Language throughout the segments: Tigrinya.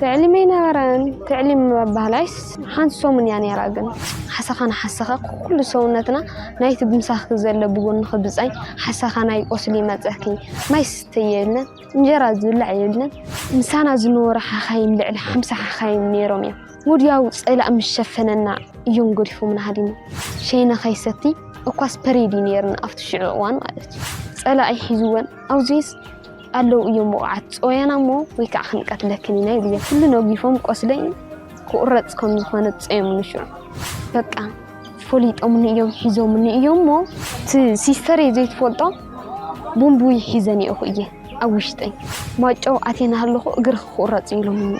ትዕሊም ኣይነበረን ትዕሊም ኣባህላይስ ሓንቲ ሰሙን እያ ነይራ ግን ሓሳኻ ንሓሳኻ ኩሉ ሰውነትና ናይቲ ብምሳኺ ዘሎ ብጎኒ ክብፃይ ሓሳኻ ናይ ቆስሊ ይመፀኪ ማይ ስተ የብለን እንጀራ ዝብላዕ የብለን ምሳና ዝነበሩ ሓኻይም ልዕሊ ሓምሳ ሓኻይም ነይሮም እዮም ሙድያዊ ጸላእ ምስ ሸፈነና እዮም ገዲፎምና ሃዲሞም። ሸይነ ከይሰቲ እኳስ ፐሬድ እዩ ነይርና ኣብቲ ሽዑ እዋን ማለት እዩ። ጸላኢ ሒዝወን ኣውዚስ ኣለው እዮም ውቑዓት ጸወያና እሞ ወይ ከዓ ክንቀትለክን ኢና ይብልዮ። ኩሉ ነጊፎም ቆስለይ ክቑረጽ ከም ዝኾነ ጸዮምኒ ሽዑ በቃ ፈሊጦምኒ እዮም ሒዞምኒ እዮም እሞ እቲ ሲስተረይ ዘይትፈልጦ ቦምብዊ ሒዘኒኦኹ እየ ኣብ ውሽጠይ ማጨው ኣቴና ኣለኹ እግርኺ ክቑረጽ ኢሎምኒ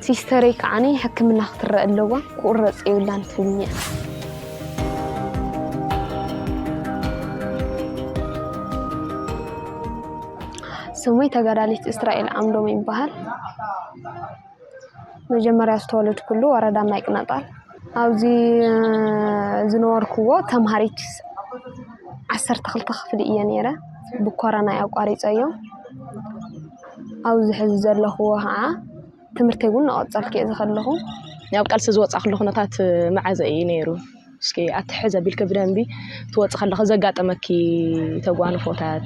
ሲስተረይ ከዓኒ ሕክምና ክትረአ ኣለዋ ክቁረፅ የብላን ትብልኒ እያ ስሙይ ተጋዳሊት እስራኤል ዓምዶም ይበሃል መጀመርያ ዝተወለድኩሉ ወረዳ ማይ ቅነጣል ኣብዚ እ፣ ዝነበርኩዎ ተምሃሪት ዓሰርተ ክልተ ክፍሊ እየ ነይረ ብኮረና እዩ ኣቋሪፀዮ ኣብዚ ሕዚ ዘለኹዎ ኸዓ ትምህርተይ እውን እናቐፀልኩ እየ ዘለኹ። ናብ ቃልሲ ዝወፃእኹሉ ኩነታት መዓዘ እዩ ነይሩ? እስኪ ኣቲ ሕዚ ኣቢልኪ ብደንቢ ትወፂ ከለኺ ዘጋጠመኪ ተጓንፎታት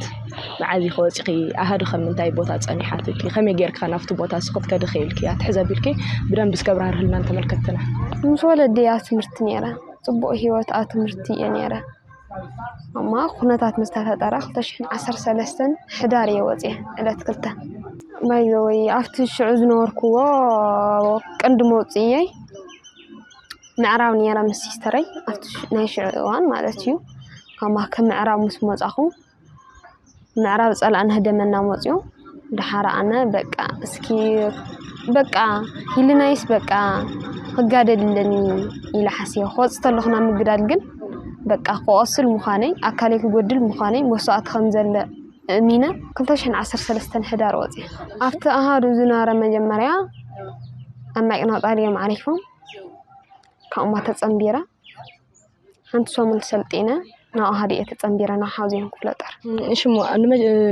መዓዝ ኢኺ ወፂኺ? ኣሃዱ ከ ምንታይ ቦታ ፀኒሓትኪ? ከመይ ጌርኪ ከ ናብቲ ቦታ ንሱ ክትከዲ ክኢልኪ? ኣቲ ሕዚ ኣቢልኪ ብደንቢ እስከ ኣብራህርህልና ንተመልከትትና። ምስ ወለደይ ኣብ ትምህርቲ ነይረ። ፅቡቕ ህይወት ኣብ ትምህርቲ እየ ነይረ። እሞ ኩነታት ምስ ተፈጠረ ክልተ ሽሕን ዓሰርተ ሰለስተን ሕዳር እየ ወፂኣ ዕለት ክልተ ባይዘወይ ኣብቲ ሽዑ ዝነበርክዎ ቅንዲ መውፅኢየይ ምዕራብ ነይረ ምስ ሲስተረይ ኣብቲ ናይ ሽዑ እዋን ማለት እዩ ካብ ማከ ምዕራብ ምስ መፃኹ ምዕራብ ፀላእና ህደመና መፅዩ ደሓር ኣነ በቃ እስኪ በቃ ህልናይስ በቃ ክጋደል ኣለኒ ኢለ ሓሲበ ክወፅእ ተለኹ ናብ ምግዳል ግን በቃ ክቆስል ምዃነይ ኣካለይ ክጎድል ምዃነይ መስዋእቲ ከም ዘለ እሚነ ክልተ ሽሕን ዓሰርተ ሰለስተን ሕዳር ወፂኣ ኣብቲ ኣሃዱ ዝነበረ መጀመርያ ኣብ ማይቅናጣል እዮም ዓሪፎም ካብኡማ ተፀምቢረ ሓንቲ ሰሙን ሰልጢነ ናብኡ ሃዲኤ ተፀምቢረ ናብ ሓውዜን ክፍለ ጦር። እሺ እሞ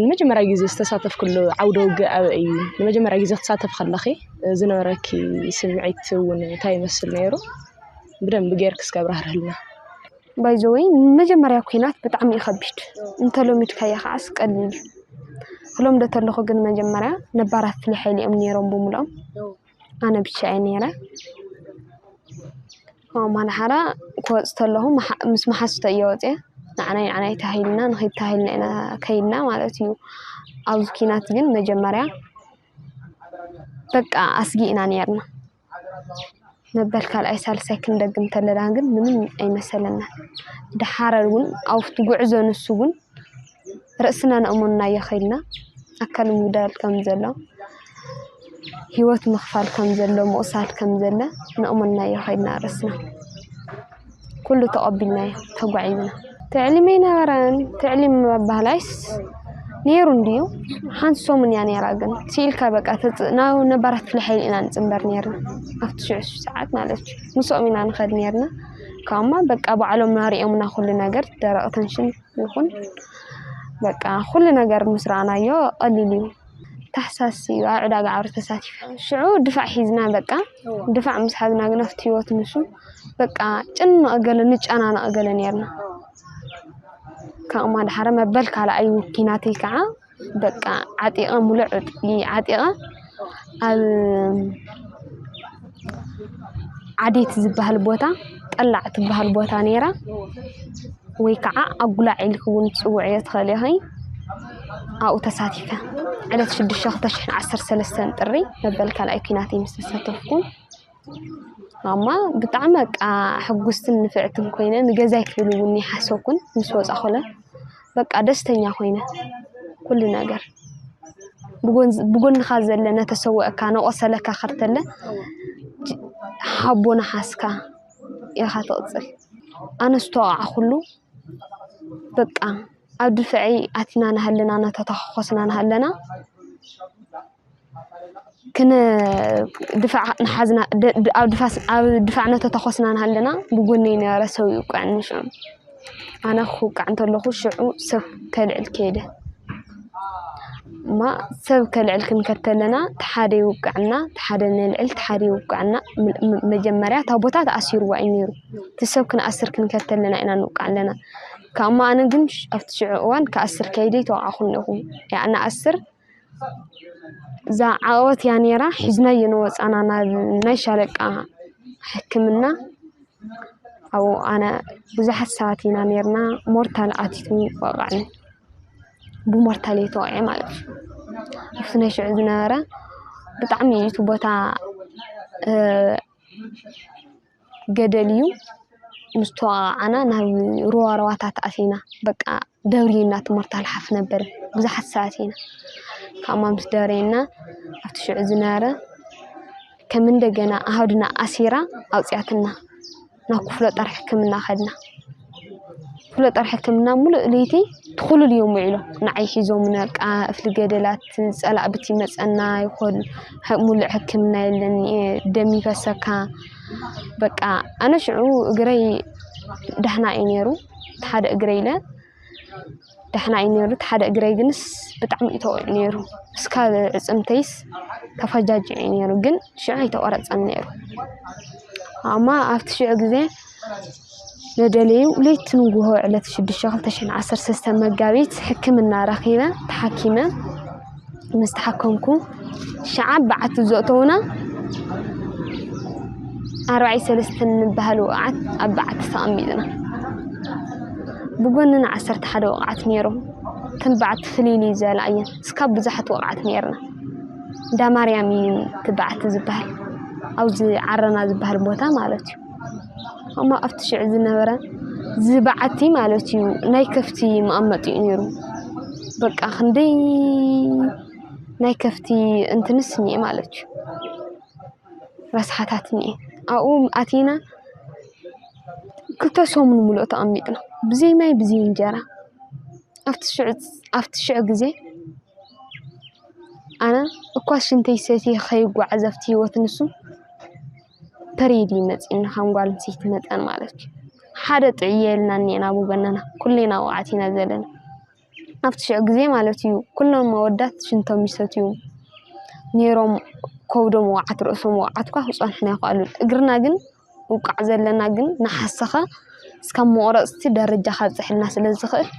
ንመጀመርያ ግዜ ዝተሳተፍክሉ ዓውደ ውግእ ኣበይ እዩ? ንመጀመርያ ግዜ ክትሳተፍ ከለኺ ዝነበረኪ ስምዒት እውን እንታይ ይመስል ነይሩ? ብደንቢ ጌርኪ እስኪ ኣብራህርህልና። ባይዘወይ መጀመርያ ኩናት ብጣዕሚ እዩ ከቢድ እንተለሚድካዮ ከዓስ ቀሊል እዩ ክለምዶ ተለኹ ግን መጀመርያ ነባራት ፍሉይ ሓይሊ እዮም ነይሮም ብምልኦም ኣነ ብቻ እየ ነይረ። ካብኡ እማን ሓራ ክወፅ ተለኹ ምስ መሓዙተ እየ ወፅየ። ንዓናይ ንዓናይ ተባሂልና ንኺድ ተባሂልና ኢና ከይድና ማለት እዩ። ኣብዚ ኪናት ግን መጀመርያ በቃ ኣስጊ ኢና ነይርና። መበል ካልኣይ ሳልሳይ ክንደግም ተለና ግን ምንም ኣይመሰለና። ድሓረ እውን ኣብቲ ጉዕዞ ንሱ እውን ርእስና ንእሞናዮ ከይድና ኣካል ምጉዳል ከም ዘሎ ሂወት ምኽፋል ከም ዘሎ ምቑሳል ከም ዘለ ንእሞናዮ ከይድና ርእስና ኩሉ ተቐቢልናዮ ተጓዒዝና ትዕሊም ኣይነበረን ትዕሊም ኣባህላይስ ነይሩ እንድዩ ሓንቲ ሰሙን እያ ነይራ ግን ስኢልካ በቃ ተፅእ ናብ ነባራት ክፍለ ሓይሊ ኢና ንፅንበር ነይርና ኣብቲ ሽዑ ሰዓት ማለት እዩ ምስኦም ኢና ንኸድ ነይርና ካብኡማ በቃ ባዕሎም ናሪኦምና ኩሉ ነገር ደረቕ ተንሽን ይኹን በቃ ኩሉ ነገር ምስ ረኣናዮ ቀሊል እዩ። ታሕሳስ እዩ ኣብ ዕዳጋ ዓውሪ ተሳቲፈ ሽዑ ድፋዕ ሒዝና በቃ ድፋዕ ምስ ሓዝና ግን ኣብቲ ህይወት ንሱ በቃ ጭንቕ ገለ ንጨናነቕ ገለ ነይርና ካብኡ ማድሓረ መበል ካልኣይ እዩ ኪናተይ ከዓ በቃ ዓጢቐ ሙሉእ ዕጥቂ ዓጢቐ ኣብ ዓዴት ዝበሃል ቦታ ቀላዕ ትበሃል ቦታ ነይራ ወይ ከዓ ኣጉላዕ ኢልኪ እውን ትፅውዕዮ ትኽእሊ ኢኺ። ኣብኡ ተሳቲፈ ዕለት ሽዱሽተ ክልተ ሽሕን ዓሰርተ ሰለስተን ጥሪ መበል ካልኣይ ኲናት እየ ምስ ተሳተፍኩ። እማ ብጣዕሚ በቃ ሕጉስትን ንፍዕትን ኮይነ ንገዛይ ክብል እውን ኣይሓሰብኩን ምስ ወፃኹለ በቃ ደስተኛ ኮይነ ኩሉ ነገር ብጎንኻ ዘለ ነተሰወእካ ነቆሰለካ ከርተለ ሓቦ ናሓስካ ኢኻ ትቅፅል ኣነ ዝተወቃዕኹሉ በቃ ኣብ ድፍዐይ ኣቲና ናሃለና ናተታኮስና ናሃለና። ኣብ ድፋዕ እናተታኾስና እናሃለና ብጎነይ ዝነበረ ሰብ ይውቀዐኒ ሽዑ ኣነ ክውቃዕ እንተለኹ ሽዑ ሰብ ከልዕል ከይደ እሞ ሰብ ከልዕል ክንከድ ከለና እቲ ሓደ ይውቀዐና እቲ ሓደ ነልዕል እቲ ሓደ ይውቀዐና መጀመርያ እታ ቦታ ተኣሲርዋ እዩ ነይሩ እቲ ሰብ ክንኣስር ክንከድ ከለና ኢና ንውቃዕ ዘለና ካብ እሞ ኣነ ግን ኣብቲ ሽዑ እዋን ክኣስር ከይደ ኣይተወቃዕኹን እኹ ክኣ እንኣስር እዛ ዓቐበት እያ ነይራ ሒዝናዮ ንወፃና ናብ ናይ ሻለቃ ሕክምና ኣብኡ ኣነ ብዙሓት ሰባት ኢና ነይርና ሞርታል ኣትዩ ወቓዕኒ ብሞርታል እየ ተወቒዐ ማለት እዩ ኣብቲ ናይ ሽዑ ዝነበረ ብጣዕሚ እዩ እቲ ቦታ ገደል እዩ። ምስ ተወቓዕና ናብ ሩባ ሩባታት ኣቲና በቃ ደብርዩና ትምህርቲ ኣልሓፍ ነበር ብዙሓት ሰባት ኢና ካብማ ምስ ደረየና ኣብቲ ሽዑ ዝነበረ ከም እንደገና ኣሃዱና ኣሲራ ኣውፅኣትና ናብ ክፍለ ጦር ሕክምና ከድና። ክፍለጦር ሕክምና ምሉእ ልይቲ ትዂሉል እዮም ውዒሎ ንዓይ ኂዞም ነቃ እፍሊ ገደላት ጸላእብቲ መጸና ይኾል ሙሉእ ሕክምና የለን ደሚፈሰካ በቃ ኣነሽዑ እግረይ ዳሕና ኢነይሩ ተሓደ እግረይ ኢለ። ዳሕና እዩ ነይሩ። እቲ ሓደ እግረይ ግንስ ብጣዕሚ እዩ ተወቂዑ ነይሩ። እስካብ እፅምተይስ ተፈጃጂዑ እዩ ነይሩ። ግን ሽዑ ኣይተቆረፀን ነይሩ። ኣማ ኣብቲ ሽዑ ግዜ መደለዩ ለይቲ ንጉሆ ዕለት ሽዱሽተ ክልተ ሽሕን ዓሰርተ ሰለስተ መጋቢት ሕክምና ረኺበ ተሓኪመ ምስ ተሓከምኩ ሽዓ በዓቲ ዘእተዉና ኣርባዕይ ሰለስተ ንበሃል ወቕዓት ኣብ በዓቲ ተቐሚጥና። ብጎንና ዓሰርተ ሓደ ወቕዓት ነይሩ። እተን በዓቲ ፍልይልይ ዝበላ እየን። እስካብ ብዙሓት ወቕዓት ነይርና። እንዳ ማርያም እዩ እቲ በዓቲ ዝበሃል። ኣብዚ ዓረና ዝበሃል ቦታ ማለት እዩ። እሞ ኣብቲ ሽዑ ዝነበረ እዚ በዓቲ ማለት እዩ ናይ ከፍቲ መቐመጢ እዩ ነይሩ። በቃ ክንደይ ናይ ከፍቲ እንትንስ እኒአ ማለት እዩ። ረስሓታት እኒአ ኣብኡ ኣቲና ክልተ ሰሙን ሙሉእ ተቐሚጥና ብዘይ ማይ ብዘይ እንጀራ ኣብቲ ሽዑ ኣብቲ ሽዑ ግዜ ኣነ እኳ ሽንተይ ሰትየ ከይጓዓዝ ኣብቲ ሂወት ንሱ ፐሬድ እዩ መፂኡና ከም ጓል ኣንስተይቲ መጠን ማለት እዩ። ሓደ ጥዕይ ኢልና እኒኤና ኣቡ በነና ኩሌና ወቓዕቲ ኢና ዘለና። ኣብቲ ሽዑ ግዜ ማለት እዩ ኩሎም ኣወዳት ሽንቶም ይሰትዩ ኔሮም ከብዶም ወቓዕቲ ርእሶም ወቓዕቲ እኳ ክፀንሑና ይኽኣሉ። እግርና ግን ውቃዕ ዘለና ግን ንሓሰኻ እስካብ መቑረፅቲ ደረጃ ከብፀሐና ስለዝኽእል።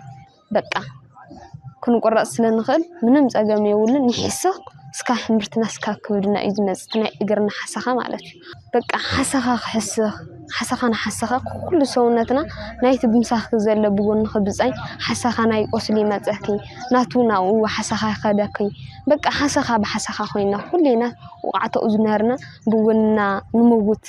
በቃ ክንቁረፅ ስለንኽእል ምንም ፀገም የብሉን ይሕስኽ እስካብ ሕምብርትና እስካብ ከብድና እዩ ዝመፅእ እቲ ናይ እግርና ሓሰኻ ማለት እዩ። በቃ ሓሰኻ ክሕስኽ ሓሰኻ ንሓሰኻ ኩሉ ሰውነትና ናይቲ ብምሳኺ ዘሎ ብጎንኺ ብፃይ ሓሰኻ ናይ ቁስሊ ይመፀኪ ናቱ ናብኡ ሓሰኻ ይኸደኪ በቃ ሓሰኻ ብሓሰኻ ኮይና ኩልና ውቓዕቶ እዩ ዝምህርና ብጎንና ንመውት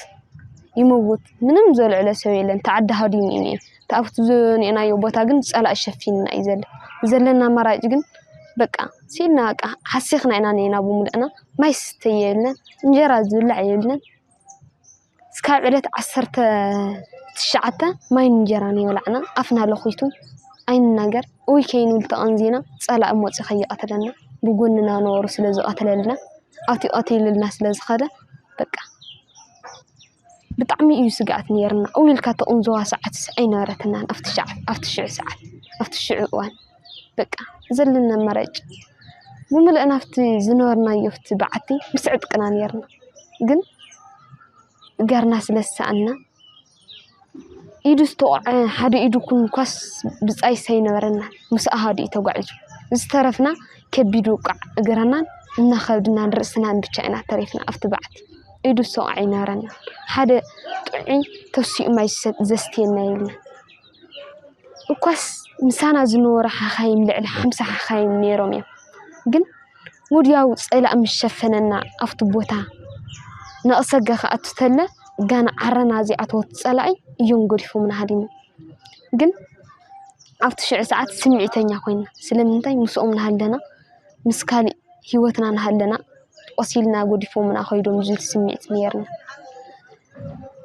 ይመውት ምንም ዘልዕሎ ሰብ የለን ተዓዲ ሃዲሙ እዩ እኒኤ። እቲ ኣብቲ ዝንኤናዮ ቦታ ግን ፀላኢ ሸፊንና እዩ ዘሎ። ዘለና ኣማራጭ ግን በቃ ስኢንና በቃ ሓሲኽና ኢና እንኤና ብምሉእና ማይ ዝስተ የለን እንጀራ ዝብላዕ የለን። እስካብ ዕለት ዓሰርተ ትሽዓተ ማይን እንጀራን እይበላዕና ኣፍና ለኺቱ ኣይንናገር ኡይ ከይንብል ተቐንዚና ፀላኢ መፂኡ ከይቐትለና ብጎንና ነበሩ ስለ ዝቐትለልና ኣትዩ ቐቲሉልና ስለ ዝኸደ በቃ። ብጣዕሚ እዩ ስግኣት ነይሩና እው ኢልካ ትቕንዘዋ ሰዓት ኣይነበረትናን ኣብቲ ሽዓ ኣብቲ ሽዑ ሰዓት ኣብቲ ሽዑ እዋን በቃ ዘለኒ ኣማራጭ ብምልእ ናብቲ ዝነበርናዮ ኣብቲ በዓቲ ምስ ዕጥቅና ነይርና ግን እገርና ስለ ዝሰኣና ኢዱ ዝተቖዐ ሓደ ኢዱ ኩንኳስ ብጻይስ ኣይነበረና ምስ ኣሃዱ እዩ ተጓዒዙ ዝተረፍና ከቢድ ውቃዕ እግርናን እና ከብድናን ርእስናን ብቻ ኢና ተሪፍና ኣብቲ በዓቲ ኢዱ ሰቑዕ ኣይነበረና ሓደ ጥዑይ ተሲኡ ማይ ዘስትየና የለን እኳስ ምሳና ዝነበሩ ሓኻይም ልዕሊ ሓምሳ ሓኻይም ነይሮም እዮም ግን ወዲያው ፀላእ ምስ ሸፈነና ኣብቲ ቦታ ነቕሰገ ክኣቱ ተለ ጋና ዓረና ዚኣተወት ፀላኢ እዮም ገዲፎምና ሃዲሞም ግን ኣብቲ ሽዑ ሰዓት ስምዒተኛ ኮይና ስለምንታይ ምስኦም እናሃለና ምስ ካልእ ሂወትና እናሃለና ቆሲልና ጎዲፎሙና ከይዶም ዝብል ስምዒት ኔርና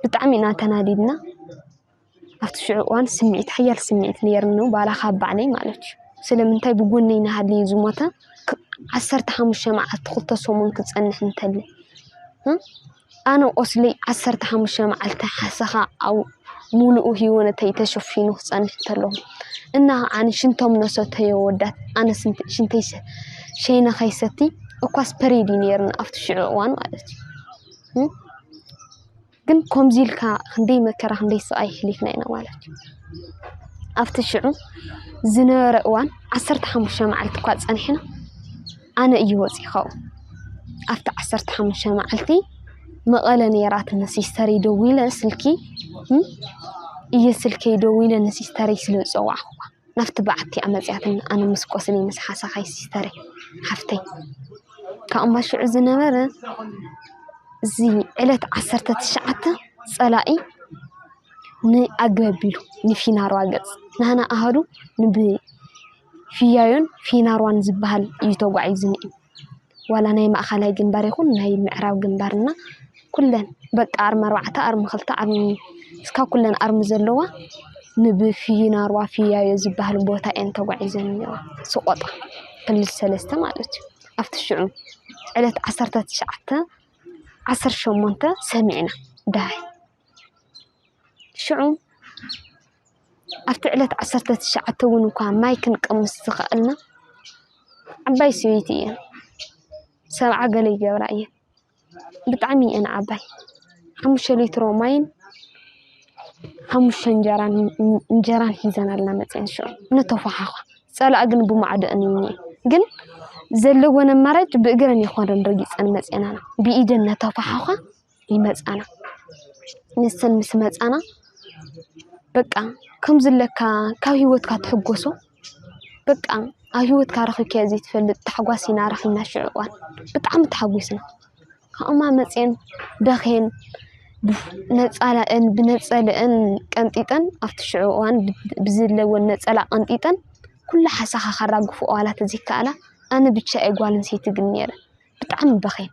ብጣዕሚ ኢና ተናዲድና ኣብቲ ሽዑ እዋን ስምዒት ሓያል ስምዒት ኔርኑ ባዕላ ካብ ባዕለይ ማለት እዩ ስለምንታይ ብጎነይ እናሃለየ ዝሞተ ዓሰርተ ሓሙሽተ መዓልቲ ክልተ ሰሙን ክፀንሕ እንተለ ኣነ ቁስሊ ዓሰርተ ሓሙሽተ መዓልቲ ሓሰኻ ኣብ ሙሉኡ ሂወተይ ተሸፊኑ ክፀንሕ ተሎ እና ከዓኒ ሽንቶም ነሰተዮ ኣወዳት ኣነ ሽንተይ ሸይነ ከይሰቲ እኳስ ፐሬድ እዩ ነይርኒ ኣብቲ ሽዑ እዋን ማለት እዩ ግን ከምዚ ኢልካ ክንደይ መከራ ክንደይ ስቓይ ሕሊፍና ኢና ማለት እዩ ኣብቲ ሽዑ ዝነበረ እዋን ዓሰርተ ሓሙሽተ መዓልቲ እኳ ፀኒሕና ኣነ እዩ ወጺኸው ኣብቲ ዓሰርተ ሓሙሽተ መዓልቲ መቐለ ነይራ ንሲስተረይ ደዊለ ስልኪ እየ ስልከይ ደዊለ ንሲስተረይ ስለ ዝፀዋዕኹዋ ናብቲ በዓቲ ኣመፅያትን ኣነ ምስ ቆስሊ ምስ ሓሳኻይ ሲስተረይ ሓፍተይ ካብ እምባ ሽዑ ዝነበረ እዚ ዕለት ዓሰርተ ትሽዓተ ፀላኢ ንኣገቢሉ ንፊናሮ ኣገፅ ናህና ኣሃዱ ንብ ፊያዮን ፊናርዋን ዝበሃል እዩ ተጓዒዙ ነይሩ። ዋላ ናይ ማእኸላይ ግንባር ይኹን ናይ ምዕራብ ግንባር እና ኩለን በቃ ኣርሚ ኣርባዕተ ኣርሚ ክልተ ኣርሚ እስካ ኩለን ኣርሚ ዘለዋ ንብፊናርዋ ፊያዮ ዝበሃል ቦታ እየን ተጓዒዘን ነይረን ስቆጣ ክልል ሰለስተ ማለት እዩ ኣብቲ ሽዑ ዕለት ዓሰርተ ትሽዓተ ዓሰርተ ሸሞንተ ሰሚዕና ዳይ ሽዑ ኣብቲ ዕለት ዓሰርተ ትሽዓተ እውን እኳ ማይ ክንቅምስ ዝኸኣልና ዓባይ ሰበይቲ እየን። ሰብዓ ገለ ይገብራ እየን። ብጣዕሚ እየን ዓባይ። ሓሙሽተ ሊትሮ ማይን ሓሙሽተ እንጀራን እንጀራን ሒዘናልና መፅየን ሽዑ ንተፈሓዃ ፀላእ ግን ብማዕዶአን እየን እኔ ግን ዘለወን ኣማራጭ ብእግረን ይኾነን ረጊፀን መፅየናና ብኢደን ነተፈሓዃ ይመፃና ንሰን ምስ መፃና በቃ ከምዝለካ ካብ ሂወትካ ትሕጎሶ በቃ ኣብ ሂወትካ ረኪብካዮ ዘይትፈልጥ ታሕጓስ ኢና ረኪብና ሽዑ እዋን ብጣዕሚ ተሓጊስና ካብኡ ድማ መፅየን በክየን ነፃለአን ብነፀለአን ቀንጢጠን ኣብቲ ሽዑ እዋን ብዘለወን ነፀላ ቀንጢጠን ኩሉ ሓሳካ ከራግፈኦ ዋላ ተዘይካኣላ ኣነ ብቻ እየ ጓል ኣነስተይቲ ግን ነይረ ብጣዕሚ በክየን።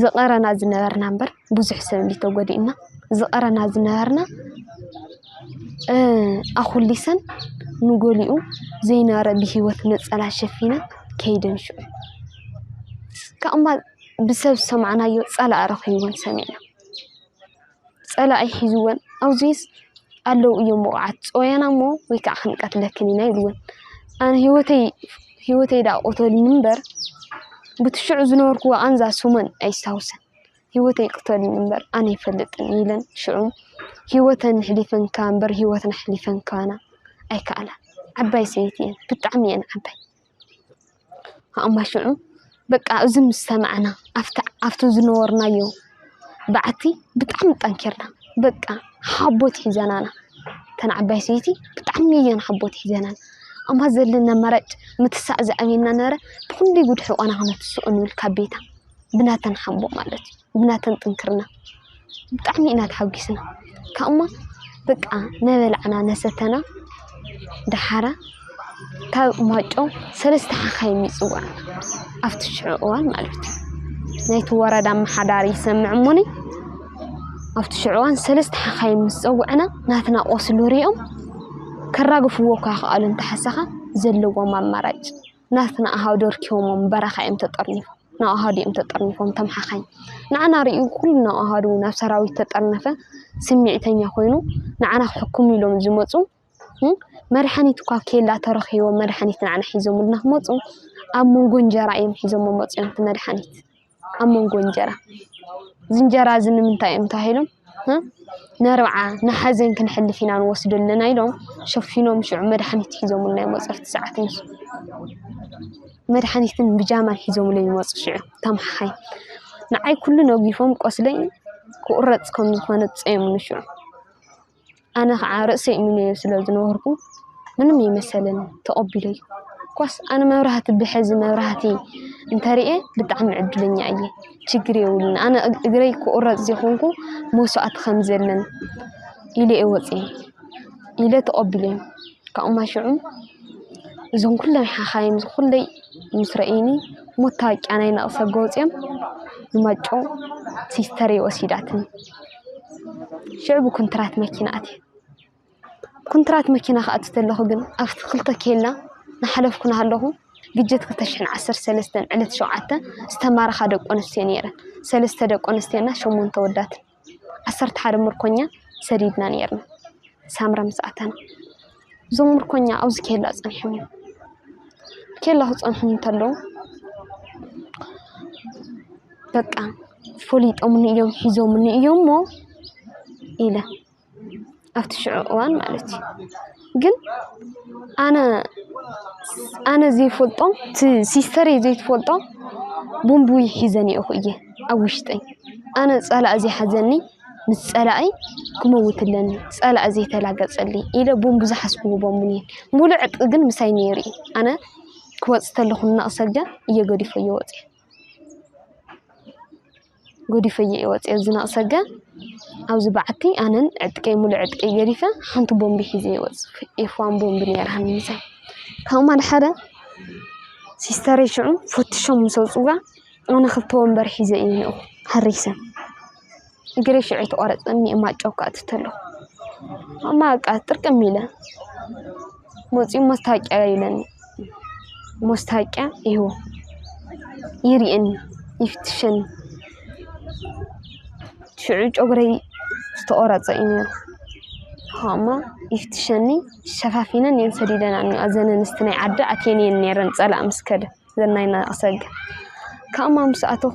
ዝቐረና ዝነበርና እምበር ብዙሕ ሰብ እንድዩ ተጎዲእና ዝቐረና ዝነበርና ኣኹሊሰን ንጎሊኡ ዘይነበረ ብሂወት ነፀላ ሸፊነን ከይደን ሽዑ ካብኡ እምበኣር ብሰብ ዝሰማዕናዮ ፀላኢ ረኺቡወን ሰሚዕና። ፀላኢ ሒዝወን ኣብዙይስ ኣለው እዮም ውቑዓት ፅወያና እሞ ወይ ከዓ ክንቀትለክን ኢና ኢልወን። ኣነ ሂወተይ ሂወተይ ድኣ ቅተሉኒ እምበር ብቲ ሽዑ ዝነበርኩዎ ቓንዛ ስመን ኣየስታውስን። ሂወተይ ቅተሉኒ እምበር ኣነ ኣይፈልጥን ኢለን ሽዑ ሂወተን ኣሕሊፈን ክኣ እምበር ሂወትና ኣሕሊፈን ክባና ኣይከኣላን። ዓባይ ሰበይቲ እየን ብጣዕሚ እየን ዓባይ። ኣማሽዑ በቃ እዚ ምስ ሰማዕና ኣብቲ ዝነበርናዮ ባዓቲ ብጣዕሚ ጠንኪርና በቃ ሓቦት ሒዘናና እተን ዓባይ ሰበይቲ ብጣዕሚ እየን ሓቦት ሒዘናና እማ ዘለኒ ኣማራጭ ምትሳእ ዝዓበየና ነበረ ብኽንደይ ጉድ ሕቆና ክነትስኦ ንብል ካብ ቤታ። ብናተን ሓቦ ማለት እዩ ብናተን ጥንክርና ብጣዕሚ ኢና ተሓጊስና ካብኡ እሞ በቃ ናበላዕና ናሰተና ደሓራ ካብ ማይጮ ሰለስተ ሓኻይም እዩ ዝፅዋዕ ኣብቲ ሽዑ እዋን ማለት እዩ ናይቲ ወረዳ ኣመሓዳሪ ይሰምዕ እሞኒ ኣብቲ ሽዑ እዋን ሰለስተ ሓኻይም ምስ ፀውዕና ናትና ቆስሊ ሪኦም ከራግፍዎ እኳ ይኸኣሉ እንተሓሰኻ ዘለዎም ኣማራጭ ናትና ኣሃው ደርኪቦሞም በረኻ እዮም ተጠርኒፎም ናብ ኣሃዱ እዮም ተጠርኒፎም እቶም ሓኻይም ንዓና ሪኡ ኩሉ ናብ ኣሃዱ ናብ ሰራዊት ተጠርነፈ ስሚዕተኛ ኮይኑ ንዓና ክሕክሙ ኢሎም ዝመፁ መድሓኒት እኳ ኣብ ኬላ ተረኺቡ መድሓኒት ንዓና ሒዞሙልና ክመፁ ኣብ መንጎ እንጀራ እዮም ሒዞሞ መፅዮም እቲ መድሓኒት። ኣብ መንጎ እንጀራ እዚ እንጀራ እዚ ንምንታይ እዮም ተባሂሎም ነርብዓ ንሓዘን ክንሕልፍ ኢና ንወስዶ ኣለና ኢሎም ሸፊኖም ሽዑ መድሓኒት ሒዞምልና ይመፁ ኣብቲ ሰዓት ንሱ መድሓኒትን ብጃማን ሒዞምለይ ይመፁ ሽዑ እቶም ሓሓይ ንዓይ ኩሉ ነጊፎም ቆስለይ ክቑረፅ ከም ዝኾነ ፀየሙኒ ሽዑ ኣነ ኸዓ ርእሰይ እምነዮ ስለ ዝነበርኩ ምንም ኣይመሰለንን ተቐቢለዮ። እኳስ ኣነ መብራህቲ ብሕዚ መብራህቲ እንተሪኤ ብጣዕሚ ዕድለኛ እየ። ችግር የብሉን ኣነ እግረይ ክቑረፅ ዘይኾንኩ መስዋእቲ ከም ዘለን ኢለ እየ ወፅየ ኢለ ተቐቢለዮ። ካብኡ ማይ ሽዑ እዞም ኩሎም ሓኻይም ኩለይ ምስ ረኣዩኒ መታወቂያ ናይ ነቕሰ ገፆም ንማይጨው ሲስተረይ ወሲዳትኒ። ሽዑ ብኩንትራት መኪና ኣትየ ኩንትራት መኪና ክኣቱ ከለኩ ግን ኣብቲ ክልተ ኬላ እናሓለፍኩ እናሃለኩ ብጀት ክልተ ሽሕን ዓሰርተ ሰለስተን ዕለት ሸውዓተ ዝተማረካ ደቂ ኣንስትዮ ነይረን ሰለስተ ደቂ ኣንስትዮ እና ሸሞንተ ኣወዳት ዓሰርተ ሓደ ምርኮኛ ሰዲድና ነይርና ሳምረ ምስ ኣተና። እዞም ምርኮኛ ኣብዚ ኬላ ፀኒሖም እዮም። ኬላ ክፀንሑ እንተለዉ በቃ ፈሊጦምኒ እዮም ሒዞምኒ እዮም እሞ ኢለ ኣብቲ ሽዑ እዋን ማለት እዩ ግን ኣነ ኣነ ዘይፈልጦም እቲ ሲስተረይ ዘይትፈልጦም ቦምቡይ ሒዘኒኦኹ እየ ኣብ ውሽጠይ ኣነ ፀላእ ዘይሓዘኒ ምስ ፀላኢ ክመውት ኣለኒ ፀላኢ ዘይተላገፀለይ ኢለ ብኡም ብዝሓስብዎ በሙን እየ ሙሉእ ዕጥቂ ግን ምሳይ ነይሩ እዩ ኣነ ክወፅእ ተለኹ እናቕሰልጃ እየ ገዲፈዮ ወፅየ ገዲፈዮ እየ ወፅየ እዚ ናቕሰልጃ ኣብዚ በዓቲ ኣነን ዕጥቀይ ሙሉእ ዕጥቀይ ገዲፈ ሓንቲ ቦምቢ ሒዘ እየ ወፅ ኤፋን ቦምቢ ነይራኒ ምሳይ ካብኡ ማል ሓደ ሲስተረይ ሽዑ ፈትሾም ምስ ኣውፅዋ ኣነ ክልተ ወንበር ሒዘ እየ ነኡ ሃሪሰ እግረይ ሽዑ ተቖረፀ እኒአ ማጨው ክኣቱ ተሎ እማ በቃ ጥርቅም ኢለ መፂኡ መስታወቂያ ይብለኒ መስታወቂያ ይህቦ ይርእየኒ ይፍትሸኒ ሽዑ ጨጉረይ ዝተቖረፀ እዩ ነይሩ ኸ እማ ይፍትሸኒ ሸፋፊነን እየን ሰዲደን እኒ እዘን ኣንስቲ ናይ ዓዲ ኣትየን እየን ነይረን ፀላእ ምስ ከደ እዘን ናይ ናቕሰገ ካብ እማ ምስ ኣተኹ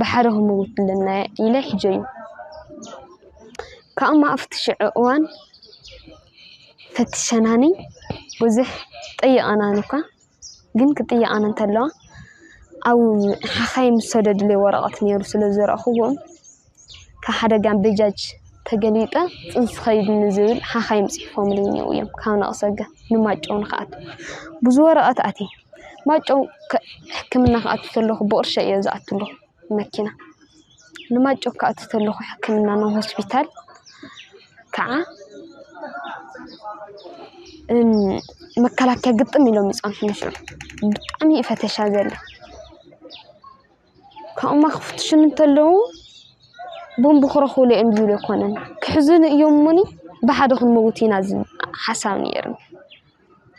ብሓደ ክምውት ኣለናየ ኢለ ሒጀዩ። ካብኡ ኣብቲ ሽዑ እዋን ፈቲሸናኒ ብዙሕ ጠይቐናኒ እኳ ግን ክጥይቃኒ እንተለዋ ኣብ ሓኻይም ዝሰደዱለይ ወረቐት ነይሩ ስለ ዝረኣኹዎ ካብ ሓደጋ በጃጅ ተገሊጠ ፅንስ ከይድኒ ዝብል ሓኻይም ፅሒፎምለይ እኒአው እዮም ካብ ነቕሰ ንማይጨው ንኽኣቱ ብዙ ወረቐት ኣትየ። ማይጨው ሕክምና ክኣቱ ከለኹ ብቕርሸይ እየ ዝኣቱ ለኹ መኪና ንማይጨው ክኣቱ ከለኹ ሕክምና ናብ ሆስፒታል ከዓ መከላከያ ግጥም ኢሎም ይፀንሑኒ ሽዑ ብጣዕሚ እዩ ፈተሻ ዘለ ካብኡማ ክፍትሹኒ እንተለዉ ቦምብ ክረኽቡሉ እዮም ዝብል ኣይኮነን ክሕዙኒ እዮም እሞኒ ብሓደ ክንመውት ኢና ዝብል ሓሳብ ነይሩኒ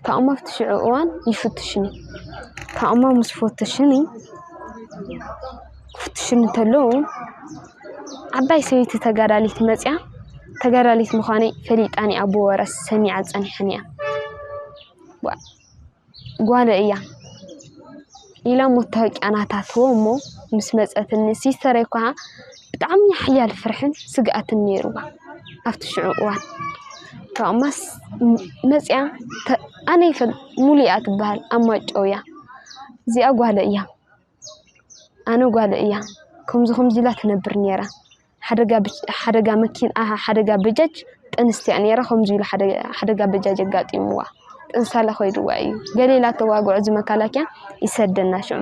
ታኦማ ኣብቲ ሽዑ እዋን ይፍትሽኒ። ታኦማ ምስ ፈተሽኒ ክፍትሽኒ ተለው ዓባይ ሰበይቲ ተጋዳሊት መፅያ ተጋዳሊት ምዃነይ ፈሊጣኒ እያ ኣቦ ወረ ሰሚዓ ፀኒሓኒ እያ። ጓለይ እያ። ኢላ መታወቂያ ናታ ትህቦ'ሞ ምስ መጸትኒ ሲስተረይ ኳ ብጣዕሚ ሓያል ፍርሕን ስግኣትን ነይሩዋ ኣብቲ ሽዑ እዋን ካብኡ'ማስ መጺኣ ኣነ ይፈል ሙሉ እያ ትብሃል ኣብ ማይጨው እያ እዚኣ ጓለይ እያ ኣነ ጓለይ እያ ከምዚ ከምዚ ኢላ ትነብር ነይራ። ሓደጋ በጃጅ ጥንስቲ እያ ኔራ ከምዚ ኢሉ ሓደጋ በጃጅ ኣጋጢምዋ ጥንሳለ ከይድዋ እዩ ገለ ኢላተዋግዖ እዚ መከላከያ ይሰደና ሽዑ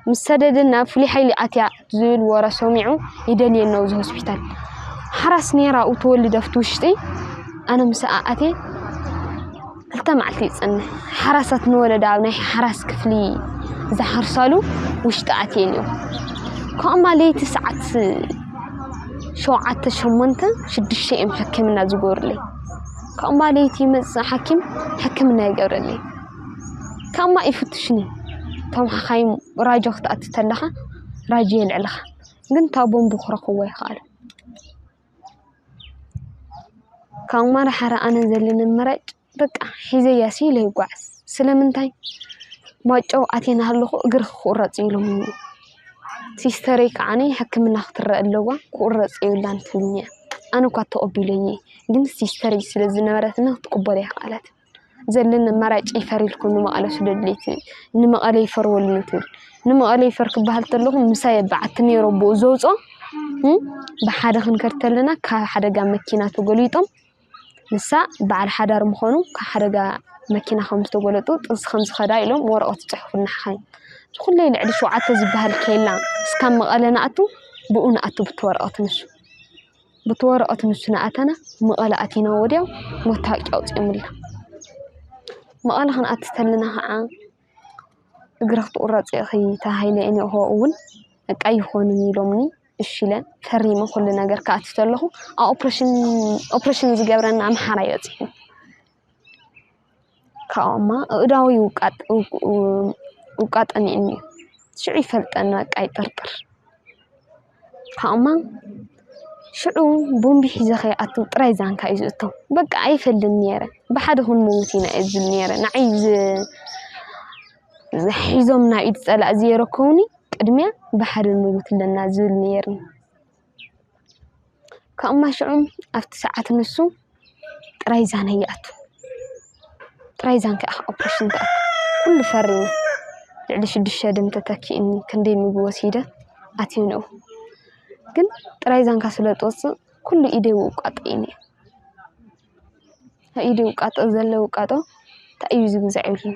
ምስ ሰደደና ፍሉይ ሓይሊ ኣትያ ዝብል ወረ ሰሚዑ ይደልየና ኣብዚ ሆስፒታል ሓራስ ኔራ ኣብኡ ትወልድ ኣብቲ ውሽጢ ኣነ ምስኣ ኣትየ ክልተ መዓልቲ ይጸንሕ። ሓራሳት ንወለዶ ኣብ ናይ ሓራስ ክፍሊ ዝሓርሳሉ ውሽጢ ኣትየን እዮም። ካብኡ ድማ ለይቲ ሰዓት ሸውዓተ ሸሞንተ ሽዱሽተ እዮም ሕክምና ዝገብሩለይ። ካብኡ ድማ ለይቲ ይመጽእ ሓኪም ሕክምና ይገብረለይ። ካብኡ ድማ ይፍትሽኒ እቶም ሓኻይም ራጆ ክትኣቱ ተለኻ ራጆ የልዕልኻ ግን እታ ቦምቡ ክረኽብዎ ኣይከኣሉን። ካብ ማራ ሓራ ኣነ ዘለኒ ኣማራጭ በቃ ሒዘያ ስኢነ ይጓዓዝ ስለምንታይ ማይጮ ኣትየ እናሃለኹ እግርኺ ክቑረፅ እዩ ኢሎምኒ ሲስተረይ ከዓኒ ሕክምና ክትረአ ኣለዋ ክቑረፅ የብላን ትብለኒ እያ ኣነ እኳ ተቐቢለዮ ግን ሲስተረይ ስለ ዝነበረትኒ ክትቅበሎ ኣይከኣለትን። ዘለኒ ኣማራጭ ይፈር ኢልኩም ንመቐለ ስደዱለይ ትብል። ንመቐለ ይፈርወልኒ ትብል። ንመቐለ ይፈር ክበሃል ተለኹ ምሳይ በዓቲ ነይሩ ኣቦኡ ዘውፅኦ ብሓደ ክንከድ ተለና ካብ ሓደጋ መኪና ተጎሊጦም ንሳ በዓል ሓዳር ምኾኑ ካብ ሓደጋ መኪና ከም ዝተጎለጡ ጥንሲ ከም ዝኸዳ ኢሎም ወረቐት ይፅሕፉልና ሓኻይም ዝኹለይ ልዕሊ ሸውዓተ ዝበሃል ኬላ እስካብ መቐለ ንኣቱ ብኡ ንኣቱ ብቲ ወረቐት ንሱ ቡቲ ወረቀት ንሱ ናኣተና መቐለ ኣቲና ወዲያው መታወቂያ ኣውፂኦምልና መቐለ ክንኣቲ ተለና ኸዓ እግሪ ክትቑረፂ ኢኺ ተባሂለ እኒኦ ኸዉን በቃ ኣይኾንን ኢሎምኒ እሺ ኢለ ፈሪመ ኩሉ ነገር ክኣቱ ተለኹ ኣብ ኦፕሬሽን ኦፕሬሽን ዝገብረኒ ኣምሓራይ በፂሑ። ካብኡ'ማ ኣእዳዉ ይዉቃጥ ይዉቃጠኒ'ኒ ሽዑ ይፈልጠኒ በቃ ይጥርጥር ካብኡ'ማ ሽዑ ቦምቢ ሒዘ ከይኣቱ ጥራይ ዛንካ እዩ ዝእቶ በቃ ኣይፈልን'የ ነይረ ብሓደ ክንመዉት ኢና እየ ዝብል ነይረ ንዓይ ሒዞም ናብ ኢድ ፀላኢ ዘየረከቡኒ ቅድሚያ ብሓደ ንመዉት ኣለና ዝብል ነይርኒ። ካብኡ'ማ ሽዑ ኣብቲ ሰዓት ንሱ ጥራይ ዛና ይኣቱ ጥራይ ዛን ክኣ ኦፕረሽን ክኣቱ ኩሉ ፈሪሙ ልዕሊ ሽዱሽተ ደም ተተኪኡኒ ክንደይ ምግቢ ወሲደ ኣትየ ንኡ ግን ጥራይ ዛንካ ስለ ትወጽእ ኩሉ ኢደይ ይውቃጦ ነይሩ ኣብ ኢደይ ዝውቃጦ ዘሎ ውቃጦ እንታይ እዩ ዝብል ዘዕብን።